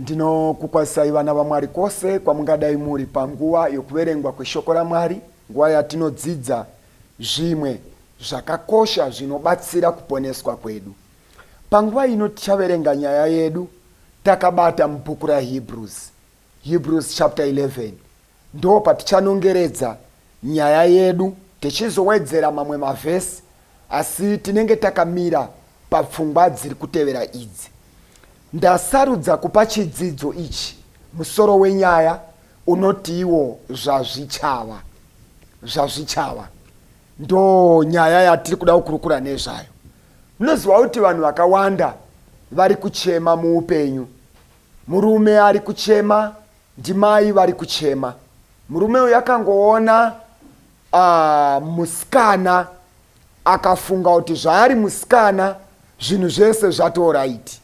Ndinokukwazisai vana vaMwari kwose kwamungadai muri panguva yokuverengwa kweshoko raMwari, nguva yatinodzidza zvimwe zvakakosha zvinobatsira kuponeswa kwedu. Panguva ino tichaverenga nyaya yedu takabata mubhuku raHebrews, Hebrews chapter 11. Ndopatichanongeredza nyaya yedu tichizowedzera mamwe mavhesi asi tinenge takamira papfungwa dziri kutevera idzi. Ndasarudza kupa chidzidzo ichi musoro wenyaya unotiwo Zvazvichava. Zvazvichava ndonyaya yatiri kuda kukurukura nezvayo. Munoziva kuti vanhu vakawanda vari kuchema muupenyu. Murume ari kuchema Ndimai vari kuchema. Murume uyu akangoona uh, musikana akafunga kuti zvaari musikana zvinhu zvese zvatoraiti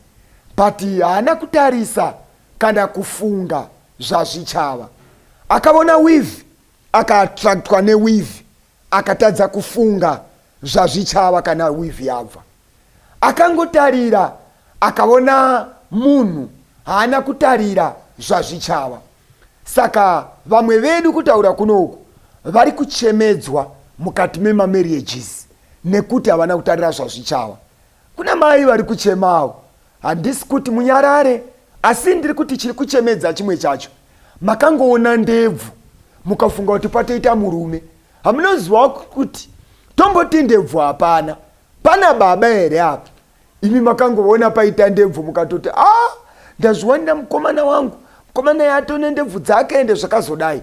but haana kutarisa kana kufunga zvazvichava. Akavona weave akaattractwa neweave Akatadza kufunga zvazvichava kana wivhi yabva. Akangotarira akaona munhu haana kutarira zvazvichava. Saka vamwe vedu kutaura kuno uku vari kuchemedzwa mukati memamarriages nekuti havana kutarira zvazvichava. Kuna mai vari kuchemawo. Handisi kuti munyarare asi ndiri kuti chiri kuchemedza chimwe chacho. makangoona ndebvu mukafunga kuti patoita murume hamunozivawo kuti tomboti ndebvu hapana pana baba here apa imi makangoona paita ndebvu mukatoti a ah, ndazviwanira mukomana wangu mukomana yatone ndebvu dzake ende zvakazodai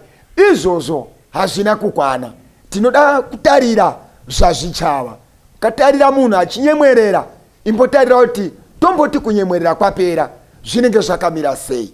izvozvo hazvina kukwana tinoda kutarira zvazvichava katarira munhu achinyemwerera imbotarira kuti tomboti kunyemwerera kwapera zvinenge zvakamira sei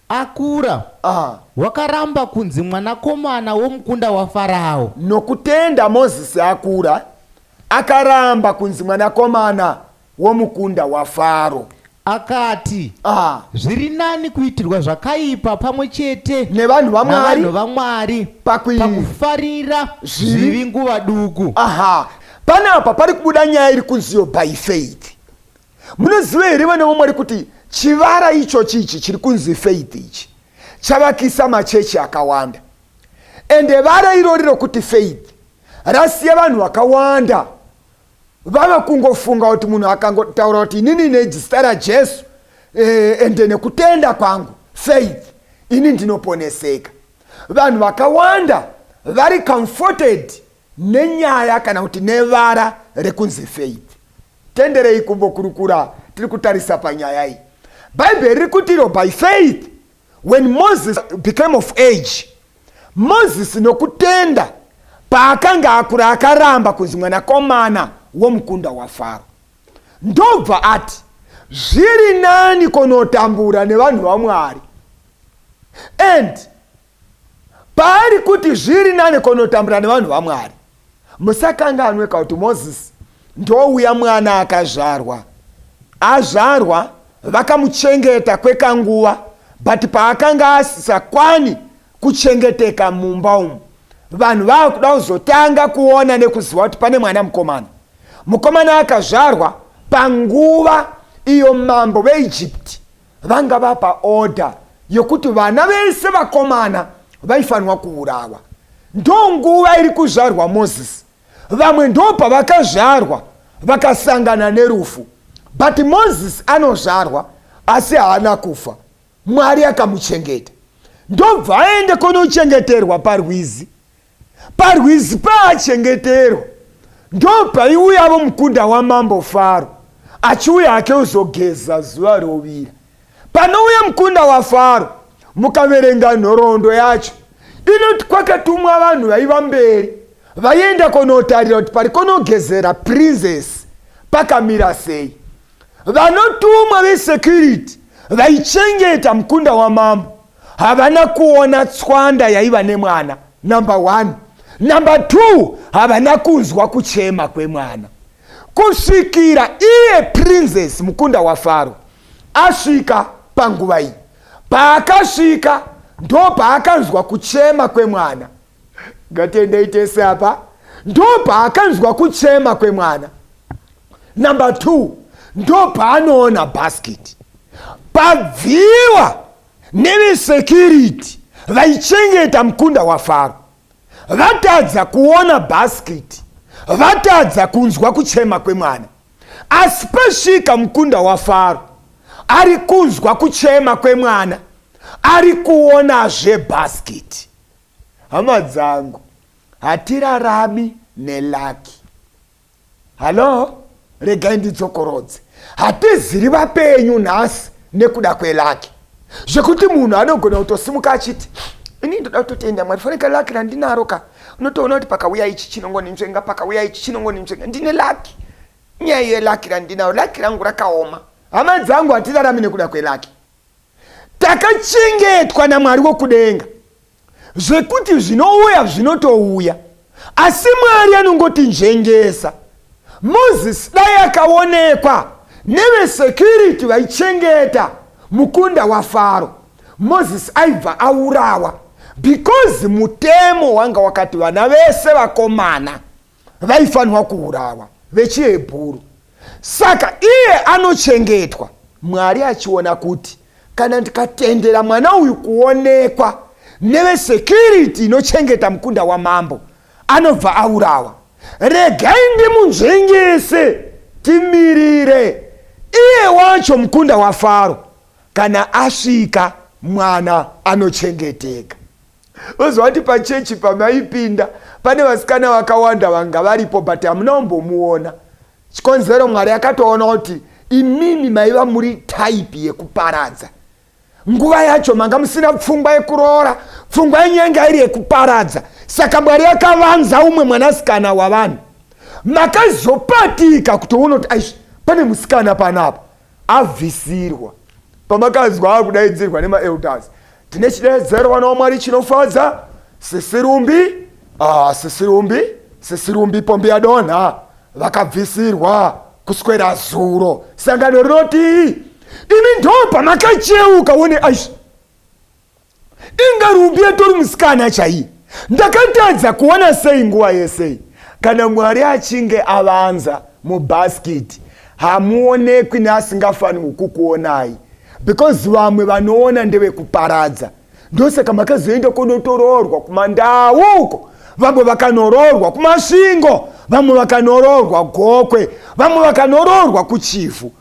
Akura, wakaramba kunzi mwanakomana womukunda waFarao. Nokutenda Mozisi akura, akaramba kunzi mwanakomana womukunda waFaro. Akati, Zviri nani kuitirwa zvakaipa pamwe chete Nevanhu vaMwari. navanhu vaMwari Pakui- pakufarira Zvivi. zvivi nguva duku. Aha, panapa pari kubuda nyaya iri kunziyo by faith. Munoziva here vana vaMwari kuti chivara ichochi ichi chiri kunzi faith ichi chavakisa machechi akawanda ende vara irori rokuti faith rasiya vanhu vakawanda vava kungofunga kuti munhu akangotaura kuti inini nezita rajesu eh, ende nekutenda kwangu faith ini ndinoponeseka vanhu vakawanda vari comforted nenyaya kana kuti nevara rekunzi faith tenderei kumbokurukura tiri kutarisa panyaya iyi bhaibheri riri kuti iro by faith when moses became of age moses nokutenda paakanga akura akaramba kunzi mwanakomana womukunda wafaro ndobva ati zviri nani kunotambura nevanhu vamwari and Paari kuti zviri nani konotambura nevanhu vaMwari. Musakanganwe ka kuti Mozisi ndouya mwana akazvarwa. Azvarwa vakamuchengeta kwekanguva but paakanga asisakwani kuchengeteka mumba umu vanhu vakuda kuzotanga kuona nekuziva kuti pane mwana mukomana. Mukomana akazvarwa panguva iyo mambo veIjipiti vanga vapa order yekuti vana vese vakomana vaifanirwa kuurawa ndonguva iri kuzvarwa moses vamwe ndopavakazvarwa vakasangana nerufu but moses anozvarwa asi haana kufa mwari akamuchengeta ndobva aende kunochengeterwa parwizi Parwizi paachengeterwa ndopaiuyavo mukunda wamambo Faro achiuya hake kuzogeza zuva rovira. Panouya mukunda waFaro mukaverenga nhoroondo yacho inoti kwakatumwa vanhu vaiva mberi vaienda kunotarira kuti pari kunogezera princess pakamira sei. Vanotumwa vesecurity vaichengeta mukunda wamambo havana kuona tswanda yaiva nemwana number one number two havana kunzwa kuchema kwemwana kusvikira iye princes mukunda wafaro asvika panguva iyi paakasvika ndopaakanzwa kuchema kwemwana Ngatiendei tese apa. Ndopaakanzwa kuchema kwemwana. Number two, ndopaanoona basket. Pabviwa nevesecurity vaichengeta mukunda wafaro. Vatadza kuona basket. Vatadza kunzwa kuchema kwemwana. Asi pasvika mukunda wafaro ari kunzwa kuchema kwemwana ari kuonazve basket. Hama dzangu hatirarami nelucky. Hallo regai ndidzokorodze. Hatiziri vapenyu nhasi nekuda kwelucky. Zvekuti munhu anogona kutosimuka achiti ini ndoda kutotenda mwari faneka lucky randinaro ka unotoona kuti pakauya ichi chinongoninzvenga pakauya ichi chinongoninzvenga ndine lucky nyaya yelucky randinaro lucky rangu rakaoma hama dzangu hatirarami nekuda kwelucky Takachengetwa naMwari wokudenga zvekuti zvinouya zvinotouya, asi Mwari anongotinzvengesa. Moses dai akaonekwa nevesecurity vaichengeta mukunda waFaro, Moses aibva aurawa because mutemo wanga wakati vana vese vakomana vaifanirwa kuurawa vechihebhuru saka iye anochengetwa mwari achiona kuti kana ndikatendera mwana uyu kuonekwa nevesecurity inochengeta mukunda wamambo anobva aurawa regai ndimunzvengese timirire iye wacho mukunda wafaro kana asvika mwana anochengeteka voziva kuti pachechi pamaipinda pane vasikana vakawanda vanga varipo but hamuna kumbomuona chikonzero mwari akatoona kuti imimi maiva muri type yekuparadza nguva yacho manga musina pfungwa yekuroora pfungwa yenyu yanga iri yekuparadza saka mwari akavanza umwe mwanasikana wavanhu makazopatika kutoona kuti aish pane musikana panapa abvisirwa. Pamakanzwa akudaidzirwa nemaelders, tine chideedzero vana waMwari chinofadza, sisi Rumbi, uh, sisi Rumbi, sisi Rumbi pombi yadonha, vakabvisirwa kuswera zuro. Sangano rinoti imi ndo pamakacheuka one aish Inga Ruby atori musikana chaiye. Ndakatadza kuona sei nguva yesei. Kana Mwari achinge avanza mubasket hamuonekwi neasingafanirwi kukuonai because vamwe vanoona ndevekuparadza. Ndosaka makazoenda kunotoroorwa kumandau uko. Vamwe vakanoroorwa kumasvingo, vamwe vakanoroorwa gokwe, vamwe vakanoroorwa kuchivhu.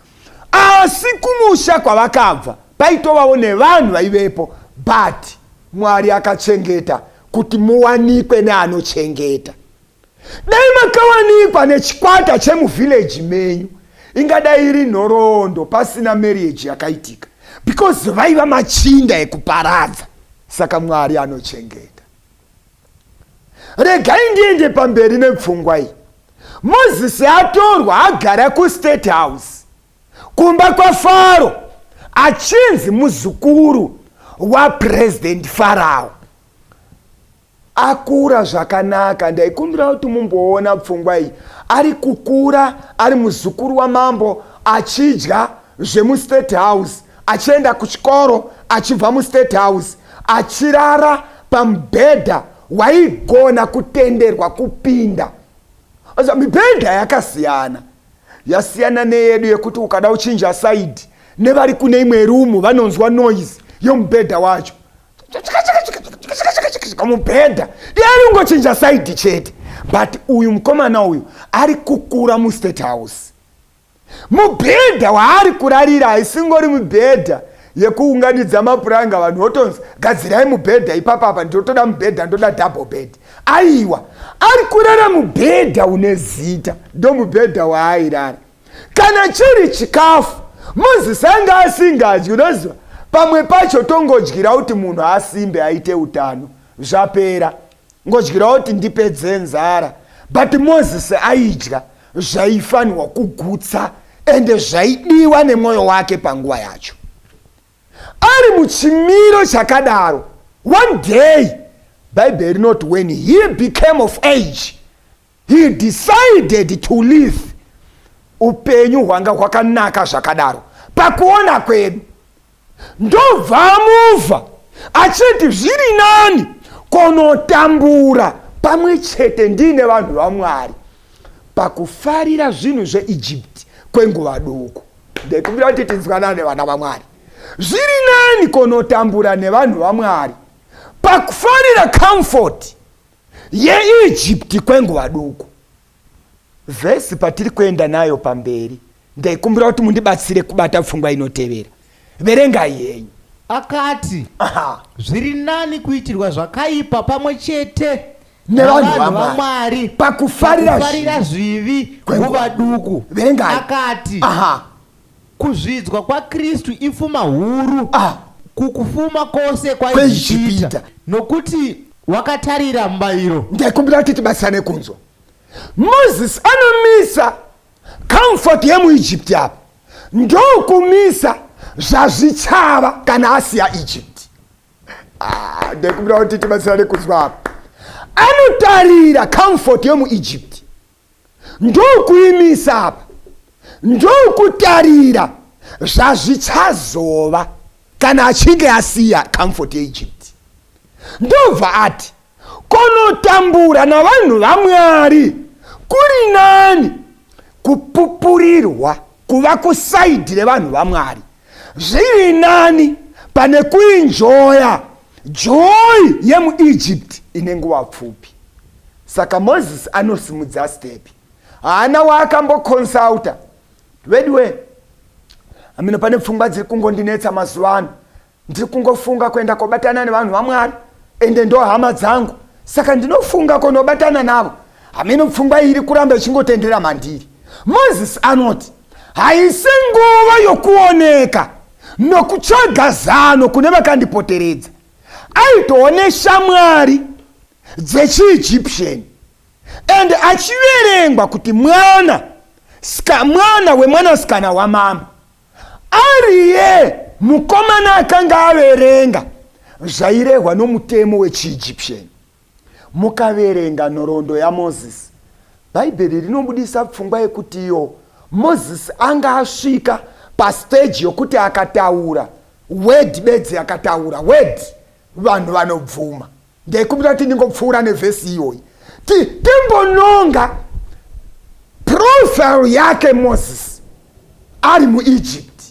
asi kumusha kwavakabva paitovawo nevanhu vaivepo but mwari akachengeta kuti muwanikwe neanochengeta dai makawanikwa nechikwata chemuvhillaji menyu ingadai iri nhoroondo pasina marriage yakaitika because vaiva machinda ekuparadza saka mwari anochengeta regai ndiende pamberi nepfungwa iyi mozisi atorwa agara kustate house kumba kwafaro achinzi muzukuru wapurezidendi farao akura zvakanaka ndaikumbira kuti mumboona pfungwa iyi ari kukura ari muzukuru wamambo achidya zvemustate house achienda kuchikoro achibva mustate house achirara pamubhedha waigona kutenderwa kupinda asa mibhedha yakasiyana yasiyana neyedu yekuti ukada uchinja saidi nevari kune imwe rumu vanonzwa noise yomubhedha wacho mubhedha iari ungochinja saidi chete but uyu mukomana uyu ari kukura mustate house Mubhedha waari kurarira haisingori mubhedha yekuunganidza mapuranga vanhu votonzi gadzirai mubhedha ipapa apa ndotoda mubhedha ndoda double bed aiwa ari kurara mubhedha une zita ndo mubhedha waairara kana chiri chikafu moses anga asingadyi unoziva pamwe pacho tongodyira kuti munhu asimbe aite utano zvapera ngodyirawo kuti ndipedze nzara but moses aidya zvaifanirwa kugutsa ende zvaidiwa nemwoyo wake panguva yacho ari muchimiro chakadaro one day bhaibheri rinoti when he became of age He decided to live upenyu hwanga hwakanaka zvakadaro pakuona kwedu ndobva amuva achiti zviri nani kunotambura pamwe chete ndiine vanhu vamwari pakufarira zvinhu zveegypt kwenguva duku ndekumbira kuti tinzwanana nevana vamwari zviri nani kunotambura nevanhu vamwari pakufarira comfort yeIjipiti kwenguva duku. Vhesi patiri kuenda nayo pamberi, ndaikumbira kuti mundibatsire kubata pfungwa inotevera. Verengai henyu. Akati, Aha. Zviri nani kuitirwa zvakaipa pamwe chete Nevanhu navanhu vaMwari. vaMwari Pakufarira pakufarira zvivi kwenguva nguva duku. Verengai. Akati, Aha. Kuzvidzwa kwaKristu ifuma huru Ah. kukufuma kwose Kwaijipita. kwaijipita, nokuti wakatarira mubayiro. ndaikumbira kuti tibatsirane kunzwa moses anomisa comfort yemuegypt apa ndokumisa zvazvichava kana asiya egypt Ah, ndaikumbira kuti tibatsirane kunzwa apa anotarira comfort yemuegypt Ndokuimisa apa ndokutarira zvazvichazova kana achinge asiya comfort yeEgypt. Ndobva ati konotambura navanhu vaMwari kuri nani kupupurirwa kuva kusaidhi revanhu vaMwari zviri nani pane kuinjoya Joy yemuEgypt ine nguva pfupi. Saka Moses anosimudza stepi. Haana waakamboconsulta. Veduwe, amino pane pfungwa dziri kungondinetsa mazuva ano. Ndiri kungofunga kuenda kobatana nevanhu vaMwari ende ndo hama dzangu. Saka ndinofunga konobatana navo. Amino pfungwa iri kuramba ichingotendera mandiri. Moses anoti, haisi nguva yokuoneka. Nokutsvaga zano kune vakandipoteredza, aitova neshamwari dzechiEgyptian and achiverengwa kuti mwana ska mwana wemwanasikana wamambo. Ariye mukomana akanga averenga zvairehwa nomutemo wechiEgyptian. Mukaverenga nhoroondo yaMozisi, Bhaibheri rinobudisa pfungwa yekuti iyo Mozisi anga asvika pastage yokuti akataura word bedzi akataura word vanhu vanobvuma. Ndaikumbira kuti ndingopfuura nevhesi iyoyi ti timbononga profile yake Mozisi. ari muEgypt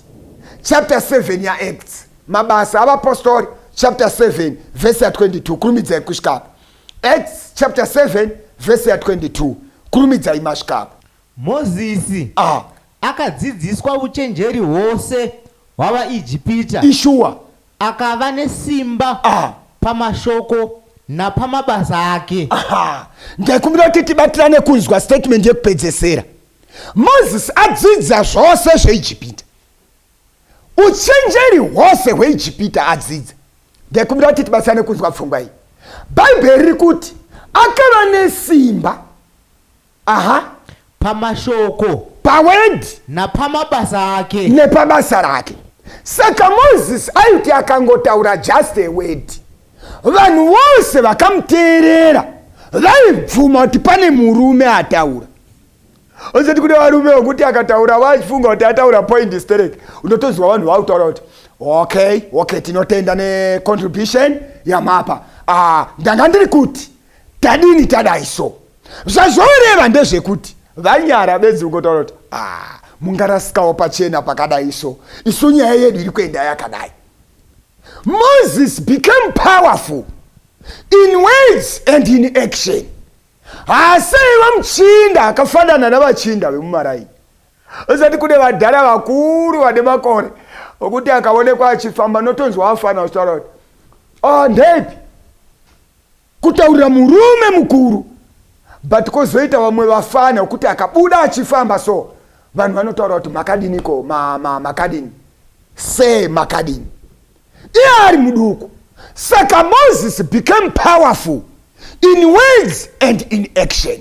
chapter 7 yaActs mabasa avapostori chapter 7 vhesi ya 22 kurumidzai kusvikapo acts chapter 7 vhesi ya 22 kurumidzai masvikapo mozisi ah. akadzidziswa uchenjeri hwose hwavaijipita ishuwa akava nesimba ah. pamashoko napamabasa ake ndaikumbira kuti tibatirane kunzwa statement yekupedzesera Mozisi adzidza zvose zveijipita uchenjeri hwose hweijipita adzidza ndaikumbira kuti tibatsirane kunzwa pfungwa iyi bhaibheri riri kuti akava nesimba aha pamashoko pawedi napamabasa ake nepabasa rake saka mozisi aiti akangotaura just a word Vanhu vose vakamuteerera vaibvuma kuti pane murume ataura osati kune varume vokuti akataura vachifunga kuti ataura point sterek unotoziva vanhu vakutaura kuti okay okay tinotenda necontribution yamapa ah, ndanga ndiri kuti tadini tadai so zvazvoreva ndezvekuti vanyara bedzi ungotaura kuti ah, mungarasikawo pachena pakadai so isu nyaya yedu iri kuenda yakadai Moses became powerful in words and in action. Haasi aiva muchinda akafanana navachinda vemumaraini. Usati kune vadhara vakuru vane makore okuti akaonekwa achifamba notonzwa afana kutaura kuti oh ndeipi Kutaurira murume mukuru but kozoita vamwe vafana wekuti akabuda achifamba so vanhu vanotaura kuti makadini ko ma, ma, makadini se makadini iye ari muduku saka moses became powerful in words and in action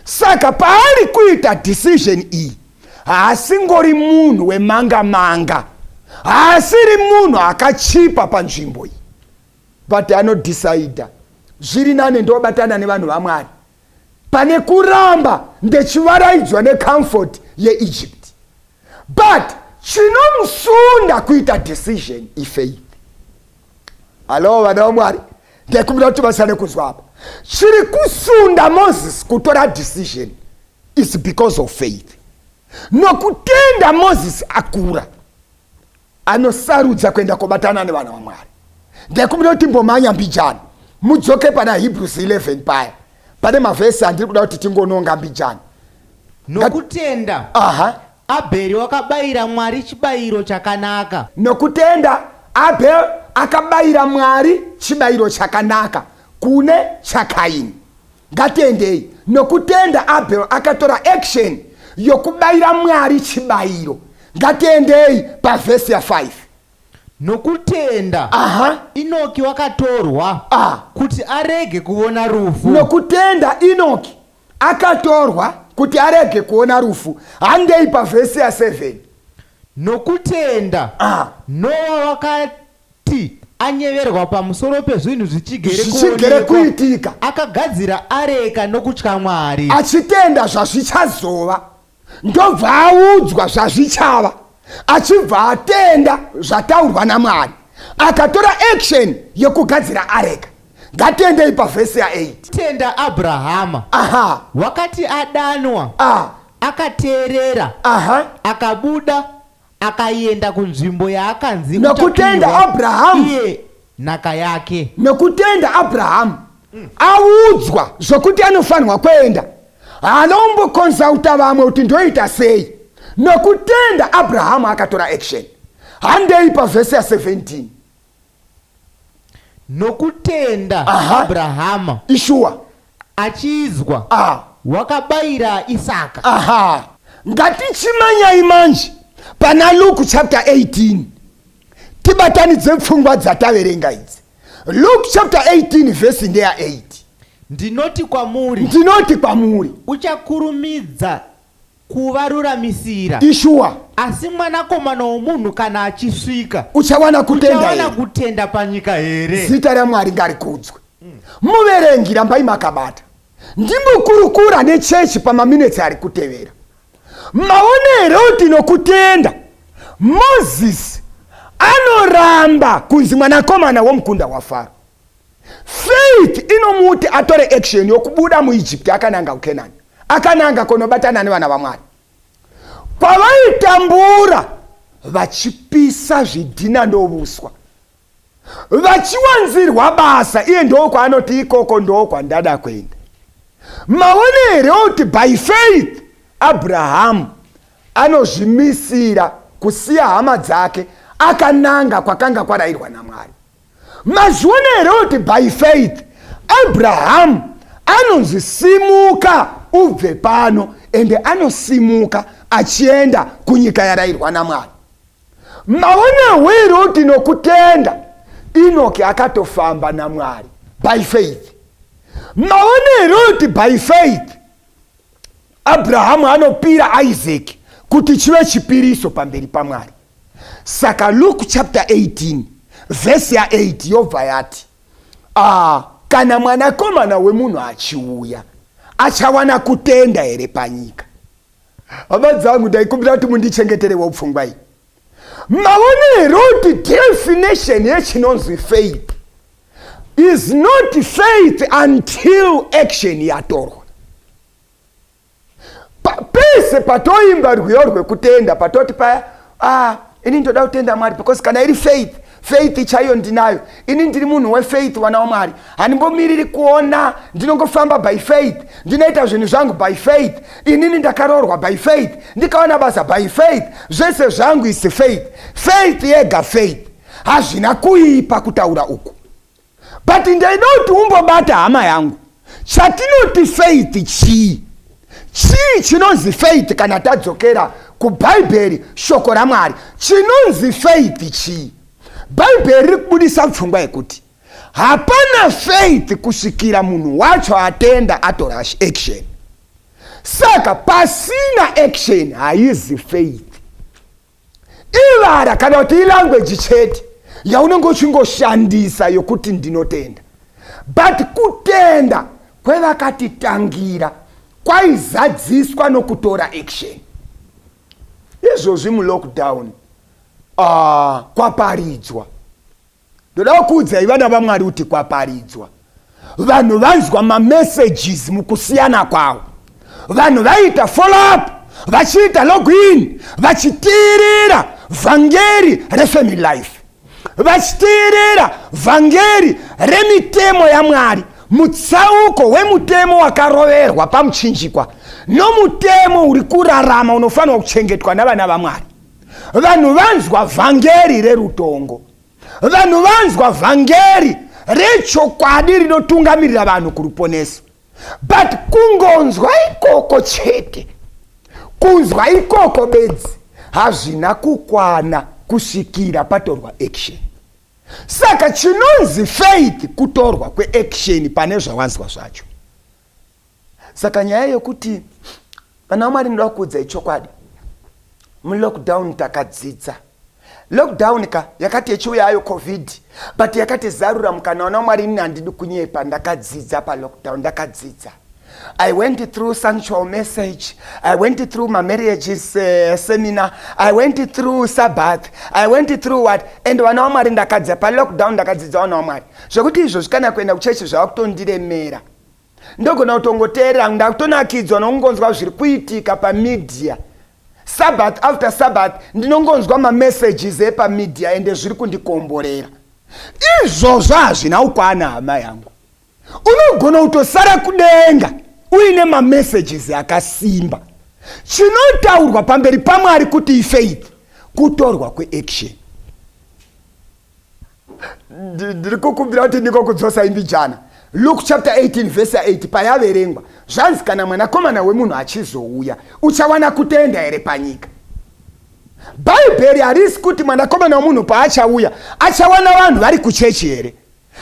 saka paari kuita decision iyi haasingori munhu wemanga manga haasiri munhu akachipa panzvimbo iyi but anodecider zviri nane ndobatana nevanhu vamwari pane kuramba ndechivaraidzwa necomfort yeegypt but chinomusunda kuita decision ifaith hallo vana vamwari ndekumbira kuti vasane kuzwa apa chiri kusunda moses kutora decision is because of faith nokutenda moses akura anosarudza kuenda kobatana nevana vamwari ndaikumira kuti mbomhanya mbijana mudzoke pana hebrews 11 paya pane mavhesi andiri kuda kuti tingononga mbijana nokutenda aha abheri wakabayira mwari chibayiro chakanaka nokutenda abel akabayira mwari chibayiro chakanaka kune chakaini Ngatiendei nokutenda Abel akatora action yokubayira Mwari chibayiro. Ngatiendei pavhesi ya5. Nokutenda Aha. Inoki wakatorwa Ah. kuti arege kuvona rufu. Nokutenda Inoki akatorwa kuti arege kuona rufu. Handei pavhesi ya7. Nokutenda Ah. Noa Kuti anyeverwa pamusoro pezvinhu zvichigere Zvichigere kuonekwa, kuitika. akagadzira areka nokutya Mwari. achitenda zvazvichazova ndobva audzwa zvazvichava achibva atenda zvataurwa namwari akatora action yekugadzira areka ngatiendei pavhesi ya8 Tenda Abrahama, aha wakati adanwa, ah, akateerera, aha akabuda, Akaienda kunzvimbo yaakanzi Nokutenda uchapiwa Abrahamu. iye nhaka yake. nokutenda abrahamu audzwa zvokuti anofanirwa kuenda haana kumbokonzauta vamwe kuti ndoita sei nokutenda abrahamu akatora action handei pavhesi ya 17 Nokutenda Aha. Abrahama ishuwa achizwa Ah. wakabayira Isaka. aha ngatichimanyai manje pana luke chapter 18 tibatanidze pfungwa dzataverenga idzi luke chapter 18 vhesi ndeya 8 Ndinoti kwamuri ndinoti kwamuri uchakurumidza kuvaruramisira. Ishuwa. Asi mwanakomana womunhu kana achisvika. Uchawana kutenda here? Uchawana kutenda panyika here? Zita raMwari ngarikudzwe. Muverengi rambai makabata. Ndimbokurukura nechechi pamaminetsi ari kutevera. Maone here kuti nokutenda Mozisi anoramba kunzi mwanakomana womukunda waFaro? faith inomuti atore action yokubuda muegypt akananga kucanaan akananga kunobatana nevana vamwari pavaitambura vachipisa zvidhina ndovuswa vachiwanzirwa basa iye ndoo kwaanoti ikoko ndoo kwandada kuenda maone here kuti by faith abrahamu anozvimisira kusiya hama dzake akananga kwakanga kwarayirwa namwari Mazviona here kuti by faith Abrahamu anonzi simuka ubve pano ende anosimuka achienda kunyika yarairwa naMwari. Maonewo here kuti nokutenda Inoki akatofamba naMwari by faith. Maona here kuti by faith Abrahamu anopira Isaac kuti chive chipiriso pamberi paMwari. Saka Luke chapter 18 verse ya 8 yobva yati, ah, kana mwanakomana wemunhu achiuya achawana kutenda here panyika? Hama dzangu, ndaikumbira kuti mundichengeterewo pfungwa iyi. Maona here kuti definition yechinonzi faith is not faith until action yatorwa pese patoimba rwiyo rwekutenda patoti paya ah, ini ndoda kutenda mwari because kana iri faith faith chaiyo ndinayo ini ndiri munhu wefaith wana wamwari handimbomiriri kuona ndinongofamba by faith ndinoita zvinhu zvangu by faith inini ndakaroorwa by faith ndikaona basa by faith zvese zvangu is faith faith yega faith Hazvina kuipa kutaura uku but ndaida kuti umbobata hama yangu chatinoti faith chii chii chinonzi faith kana tadzokera kubhaibheri shoko ramwari chinonzi faith chii bhaibheri riri kubudisa pfungwa yekuti hapana faith kusvikira munhu wacho atenda atora action saka pasina action haizi faith ivara kana kuti ilangueji chete yaunenge uchingoshandisa yokuti ndinotenda but kutenda kwevakatitangira kwaizadziswa nokutora action izvozvi mulockdown uh, kwaparidzwa ndoda kukuudzai vana vamwari kuti kwaparidzwa vanhu vanzwa mamessages mukusiyana kwavo vanhu vaiita follow up vachiita login vachitiirira vhangeri refamily life vachitiirira vhangeri remitemo yamwari mutsauko wemutemo wakaroverwa pamuchinjikwa nomutemo uri kurarama unofanirwa kuchengetwa navana vamwari vanhu vanzwa vhangeri rerutongo vanhu vanzwa vhangeri rechokwadi rinotungamirira vanhu kuruponeso but kungonzwa ikoko chete kunzwa ikoko bedzi hazvina kukwana kusvikira patorwa action saka chinonzi faith kutorwa kweaction pane zvawanzwa zvacho Saka nyaya yokuti vana vaMwari ndoda kukuudzai chokwadi mulockdown takadzidza lockdown ka yakati yechiuya ayo covid but yakati zarura mukana wana wamwari ini handidi kunyepa ndakadzidza palockdown ndakadzidza I went through sanctual message. I went through my marriages uh, seminar. I went through Sabbath. I went through what? And vana wamwari ndakadzidza palockdown ndakadzidza vana wamwari. Zvekuti izvozvi kana kuenda kuchechi zvava kutondiremera. Ndogona kutongoteerera ndakutonakidzwa nokungonzwa zviri kuitika pamedia Sabbath after Sabbath ndinongonzwa mamessages epamedia ende zviri kundikomborera. Izvozvo hazvina kukwana hama yangu. Unogona kutosara kudenga uine mamessages akasimba. Chinotaurwa pamberi paMwari kuti ifaith kutorwa kweaction. ndiri kukumbira kuti ndikokudzosa imbijana luke chapter 18 vhesi 8 payaverengwa zvanzi kana mwanakomana wemunhu achizouya uchawana kutenda here panyika bhaibheri harisi kuti mwanakomana wemunhu paachauya achawana vanhu vari kuchechi here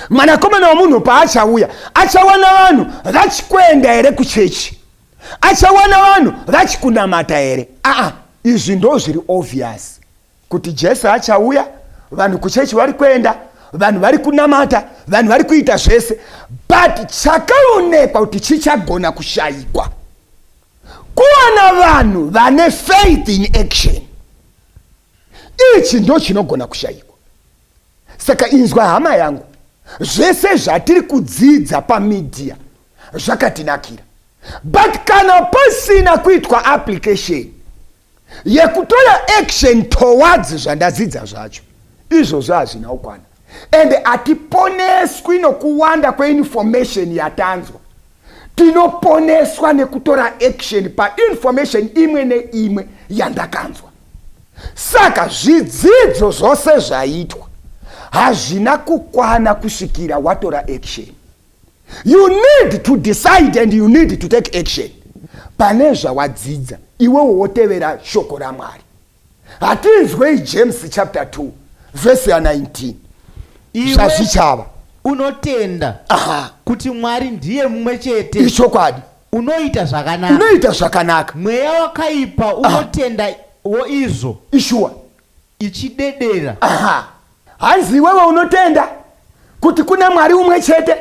mwanakomana wemunhu paachauya achawana vanhu vachikuenda here kuchechi achawana vanhu vachikunamata here aa izvi ndo zviri obvious kuti jesu achauya vanhu kuchechi vari kuenda vanhu vari kunamata vanhu vari kuita zvese but chakaonekwa kuti chichagona kushayikwa kuwana vanhu vane faith in action ichi ndo chinogona kushayikwa saka inzwa hama yangu zvese zvatiri kudzidza pamidhiya zvakatinakira but kana pasina kuitwa application yekutora action towards zvandadzidza zvacho izvozvo hazvina kukwana and hatiponeswi nokuwanda kweinformation yatanzwa tinoponeswa nekutora action painformation imwe neimwe yandakanzwa saka zvidzidzo zvose zvaitwa hazvina kukwana kusvikira watora action you need to decide and you need to take action pane zvawadzidza iwewo wotevera shoko ramwari hatinzwei james chapter 2 vhesi ya 19 zvazvichava unotenda Aha. kuti mwari ndiye mumwe chete ichokwadi unoita zvakanaka unoita zvakanaka mweya wakaipa unotenda wo izvo ishuwa ichidedera. Aha. Hanzi iwewe unotenda kuti kuna Mwari umwe chete?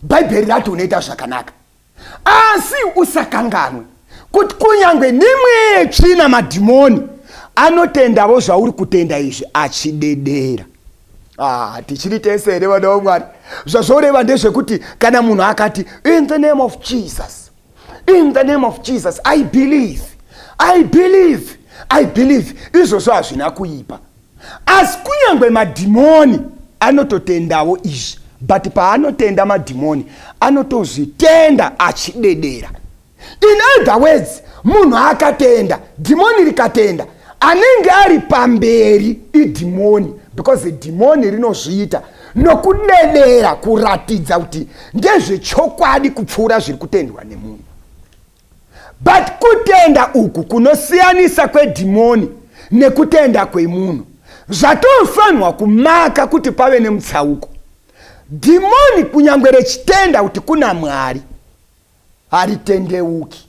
Bhaibheri rati unoita zvakanaka. Asi usakanganwe kuti kunyange nemwe tsvina madhimoni anotendavo zvauri kutenda izvi achidedera. Ah, tichiri tese here vana vamwari zvazvoreva ndezvekuti kana munhu akati in the name of jesus in the name of jesus i believe i believe i believe izvozvo hazvina kuipa asi kunyange madhimoni anototendawo izvi but paanotenda madhimoni anotozvitenda achidedera in other words munhu akatenda dhimoni rikatenda anenge ari pamberi idhimoni because dhimoni rinozviita nokudedera kuratidza kuti ndezvechokwadi kupfuura zviri kutendwa nemunhu but kutenda uku kunosiyanisa kwedhimoni nekutenda kwemunhu zvatofanirwa kumaka kuti pave nemutsauko dhimoni kunyange rechitenda kuti kuna mwari haritendeuki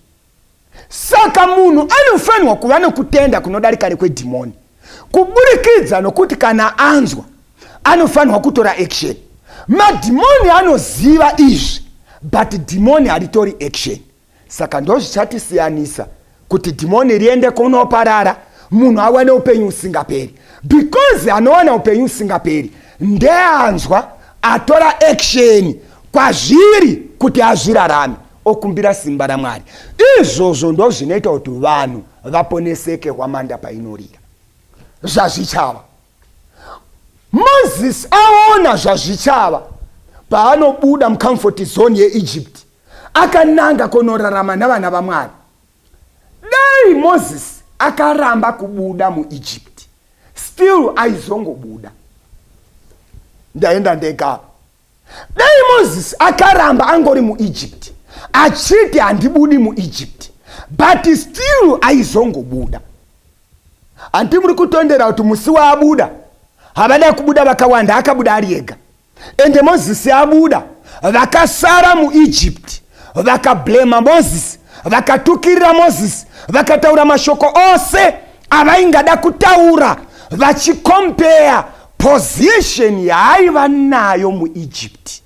Saka munhu anofanirwa kuva nokutenda kunodarika nekwedhimoni kuburikidza nokuti kana anzwa, anofanirwa kutora action. Madhimoni anoziva izvi but dhimoni haritori action. Saka ndozvichatisiyanisa kuti dhimoni riende kunoparara munhu awane upenyu usingaperi because anowana upenyu usingaperi ndeanzwa atora action kwazviri kuti azvirarame. okumbira simba ramwari izvozvo ndozvinoita kuti vanhu vaponeseke hwamanda painorira zvazvichava moses aona zvazvichava paanobuda mucomfort zone yeegypt akananga kunorarama navana vamwari dai moses akaramba kubuda muegypt still aizongobuda ndaenda ndegapa Dai Moses akaramba angori muEgypt achiti handibudi muEgypt but still aizongobuda. Hanti muri kutondera kuti musi waabuda havada kubuda vakawanda akabuda ari ega ende Moses abuda vakasara muEgypt vakablema Moses vakatukirira Moses vakataura mashoko ose avaingada kutaura vachikompeya position yaaiva nayo muegypt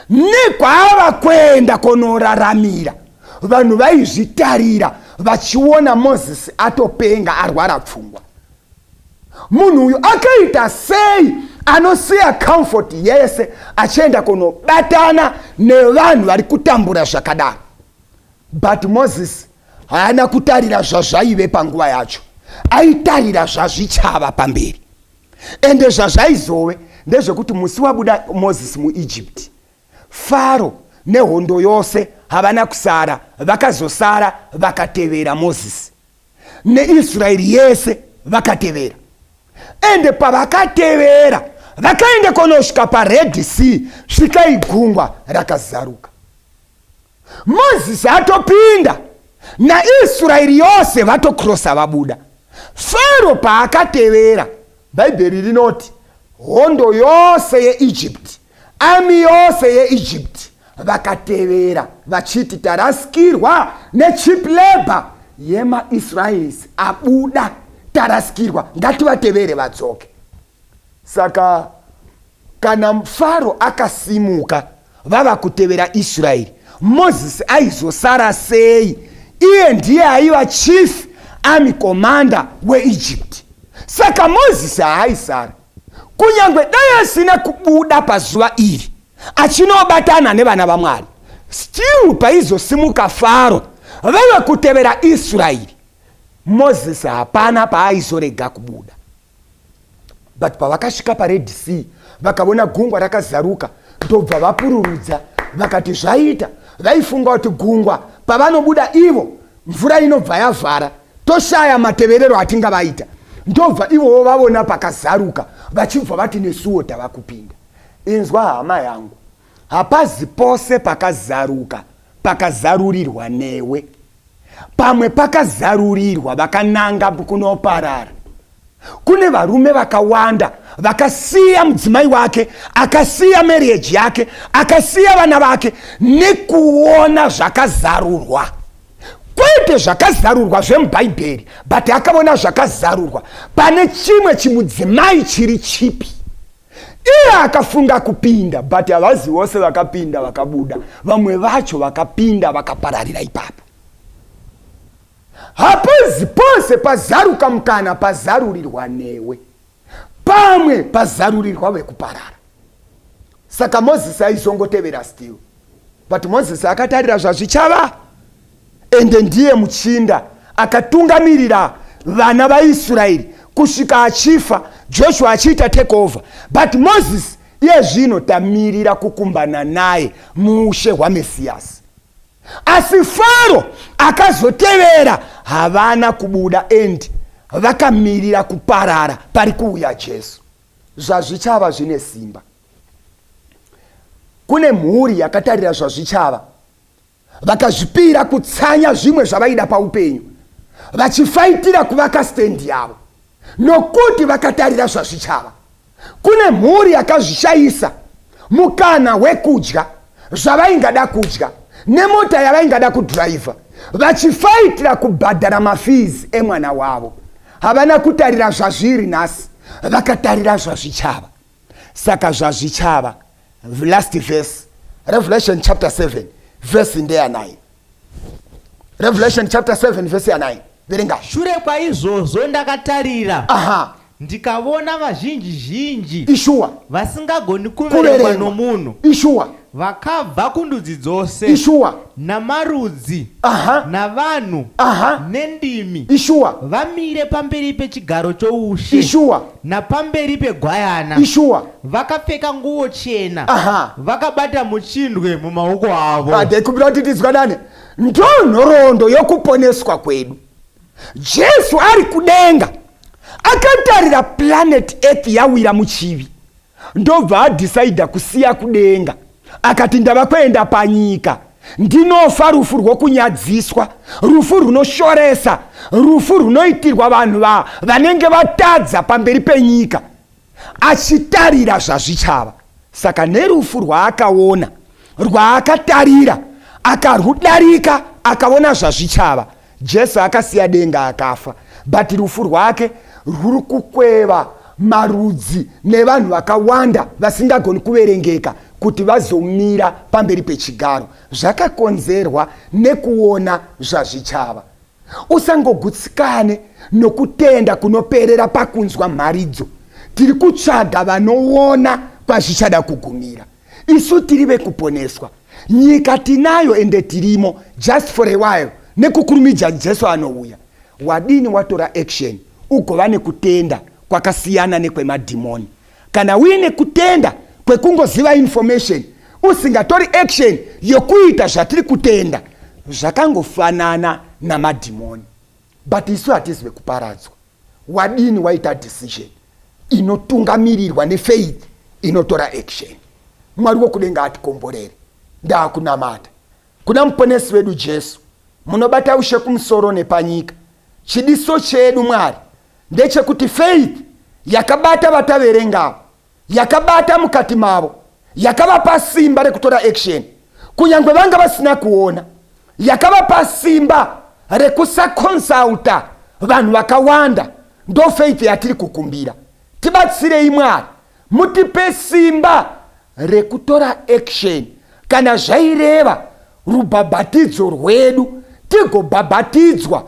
nekwaava kuenda konoraramira vanhu vaizvitarira vachiona moses atopenga arwara pfungwa munhu uyu akaita sei anosiya comfort yese achienda kunobatana nevanhu vari kutambura zvakadaro but moses haana kutarira zvazvaive panguva yacho aitarira zvazvichava pamberi ende zvazvaizove ndezvekuti musi wabuda mozisi muegypt faro nehondo yose havana kusara vakazosara vakatevera mozisi neisraeri yese vakatevera ende pavakatevera vakaenda konosvika pared sea svika igungwa rakazaruka Moses atopinda naIsraeri yose vatokrosa vabuda. Faro paakatevera, Bhaibheri rinoti hondo yose yeEgypt, ami yose yeEgypt vakatevera vachiti tarasikirwa nechip labor yemaisraelis abuda tarasikirwa ngativatevere vadzoke saka Kana Faro akasimuka vava kutevera Israeri, Mozisi aizosara sei? Iye ndiye aiva chief army commander weEgypt. Saka Mozisi haaisara. Kunyange dai asina kubuda pazuva iri achinobatana nevana vaMwari, still paizosimuka Faro vave kutevera Israeri, Mozisi hapana paaizorega kubuda. but pavakasvika pared sea vakavona gungwa rakazaruka ndobva vapururudza vakati zvaita vaifunga kuti gungwa pavanobuda ivo mvura inobva yavhara toshaya mateverero atinga vaita ndobva ivowo vavona pakazaruka vachibva vati nesuwo tava kupinda inzwa hama yangu Hapazi pose pakazaruka pakazarurirwa newe. Pamwe pakazarurirwa vakananga kunoparara. Kune varume vakawanda vakasiya mudzimai wake, akasiya marriage yake, akasiya vana vake nekuona zvakazarurwa kwete zvakazarurwa zvemubhaibheri but akaona zvakazarurwa pane chimwe chimudzimai chiri chipi iye akafunga kupinda but havazi vose vakapinda vakabuda vamwe vacho vakapinda vakapararira ipapo hapozi pose pazaruka mukana pazarurirwa newe pamwe pazarurirwa vekuparara saka mozisi aizongotevera still but mozisi akatarira zvazvichava Ende ndiye muchinda akatungamirira vana vaIsraeri kusvika achifa, Joshua achiita take over. But Moses iye zvino tamirira kukumbana naye muushe hwaMesiyasi. Asi Faro akazotevera havana kubuda and vakamirira kuparara pari kuuya Jesu. Zvazvichava zvine simba. Kune mhuri yakatarira zvazvichava. Vakazvipira kutsanya zvimwe zvavaida paupenyu vachifaitira kuvaka stand yavo nokuti vakatarira zvazvichava. Kune mhuri yakazvishayisa mukana wekudya zvavaingada kudya nemota yavaingada kudhiraivha vachifaitira kubhadhara mafizi emwana wavo. Havana kutarira zvazviri nhasi, vakatarira zvazvichava. saka zvazvichava last verse revelation chapter 7 verse ndeya 9 revelation chapter 7 verse ya 9 verenga shure kwaizvozvo ndakatarira aha ndikavona vazhinji zhinji ishuwa vasingagoni kuverengwa nomunhu ishuwa Vakabva kundudzi dzose. Ishuwa. Namarudzi. Aha. Navanhu. Aha. Nendimi. Ishuwa. Vamire pamberi pechigaro choushe. Ishuwa. Napamberi pegwayana. Ishuwa. Vakapfeka nguwo chena. Aha. Vakabata muchindwe mumaoko avo. Adai kubira kuti tizwanane. Ndonhorondo yokuponeswa kwedu. Jesu ari kudenga akatarira planet Earth yawira muchivi. ndobva adhisaidha kusiya kudenga akati ndava kuenda panyika ndinofa rufu rwokunyadziswa rufu runoshoresa rufu runoitirwa vanhu va vanenge vatadza pamberi penyika achitarira zvazvichava saka nerufu rwaakaona rwaakatarira akarwudarika akaona zvazvichava Jesu akasiya denga akafa but rufu rwake rwuri kukweva marudzi nevanhu vakawanda vasingagoni kuverengeka kuti vazomira pamberi pechigaro zvakakonzerwa nekuona zvazvichava usangogutsikane nokutenda kunoperera pakunzwa mharidzo tiri kutsvaga vanoona kwazvichada kugumira isu tiri vekuponeswa nyika tinayo ende tirimo just for a while nekukurumidza jesu anouya wadini watora action ugova nekutenda kwakasiyana nekwemadhimoni kana uine kutenda kwekungoziva information usingatori action yokuita zvatiri kutenda zvakangofanana namadhimoni but isu hatizive kuparadzwa Wadini waita decision inotungamirirwa nefaith inotora action. Mwari wokudenga atikomborere. Ndakunamata kuna muponesi wedu Jesu munobata ushe kumusoro nepanyika. Chidiso chedu Mwari ndechekuti faith yakabata vataverenga yakabata mukati mavo yakavapa simba rekutora action kunyange vanga vasina kuona yakavapa simba rekusaconsulta vanhu vakawanda ndofaith yatiri kukumbira tibatsirei mwari mutipe simba rekutora action kana zvaireva rubhabhatidzo rwedu tigobhabhatidzwa